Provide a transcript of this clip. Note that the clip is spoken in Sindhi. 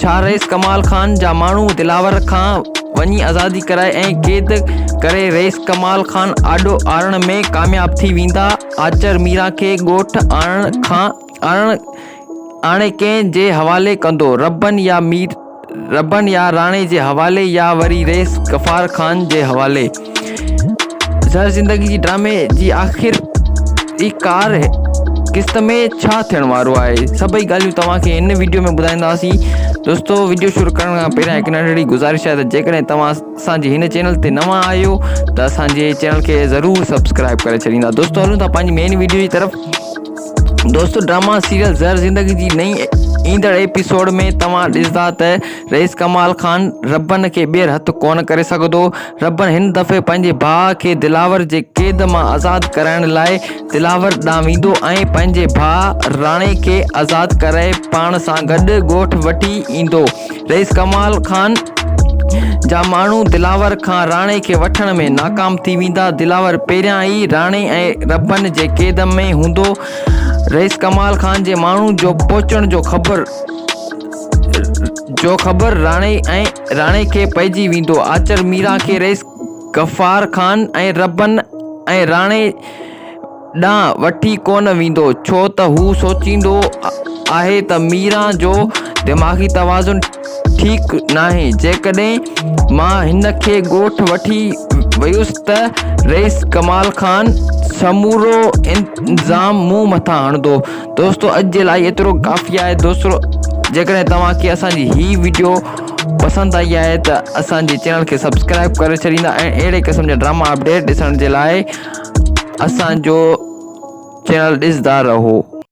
ڇا رئيس ڪمال خان جا ماڻهو دلاور کان وڃي آزادي ڪرائي ۽ قيد ڪري رئيس ڪمال خان آڏو آڻڻ ۾ ڪامياب ٿي ويندا؟ آچر ميران کي ڳوٺ آڻڻ کان آڻڻ آڻي ڪنهن جي حوالي ڪندو؟ ربن يا مير ربن يا راڻي جي حوالي يا وري رئيس غفار خان جي حوالي؟ زهر زندگي جي ڊرامي جي آخر جي ڪار قسط ۾ ڇا ٿيڻ وارو آهي سڀئي ڳالهيون توهان کي هن وڊيو ۾ ٻڌائينداسين دوستو وڊيو شروع ڪرڻ کان پهريان هڪ ننڍڙي گذارش آهي ته جيڪڏهن توهان اسان جي هن چينل تي نوان آهيو ته اسان جي چينل کي ضرور سبسڪرائب ڪري ڇڏيندا دوستو هلون ٿا پنهنجي مين وڊيو جي طرف دوستو ڊراما سيريل زهر زندگي جي نئي ايندڙ ايپيسوڊ ۾ توهان ڏسندا ته رئيس ڪمال خان ربن کي ٻيهر هٿ ڪونه ڪري سگهندو ربڻ هن دفعي پنهنجي ڀاء کي دلاور جي قيد مان آزاد ڪرائڻ لاء دلاور ڏانهن ويندو ۽ پنهنجي ڀاء راڻي کي آزاد ڪرائي پاڻ سان گڏ ڳوٺ وٺي ايندو. رئيس ڪمال خان جا ماڻهو دلاور کان راڻي کي وٺڻ ۾ ناڪام ٿي ويندا. دلاور پهريان ئي راڻي ۽ ربڻ جي قيد ۾ هوندو. رئيس ڪمال خان جي ماڻهن جو پهچڻ جو خبر. جو خبر راڻي ۽ راڻي کي پئجي ويندو. آچر ميران کي رئيس غفار خان ۽ ربن ۽ راڻي ڏانهن وٺي ڪونه ويندو، ڇو ته هو سوچيندو آهي ته ميران جو دماغي توازن ٺيڪ ناهي، جيڪڏهن مان هن کي ڳوٺ وٺي ويس ته رئيس ڪمال خان سمورو الزام مون مٿان هڻندو دوستو اڄ جي لاء ايترو ڪافي آهي دوستو جيڪڏهن توهان کي اسان جي هي ويڊيو پسند آئي آهي ته اسان جي چينل کي سبسڪرائب ڪري ڇڏيندا ۽ اهڙي قسم جا ڊراما اپڊيٽ ڏسڻ جي لاء اسان جو چينل ڏسندا رهو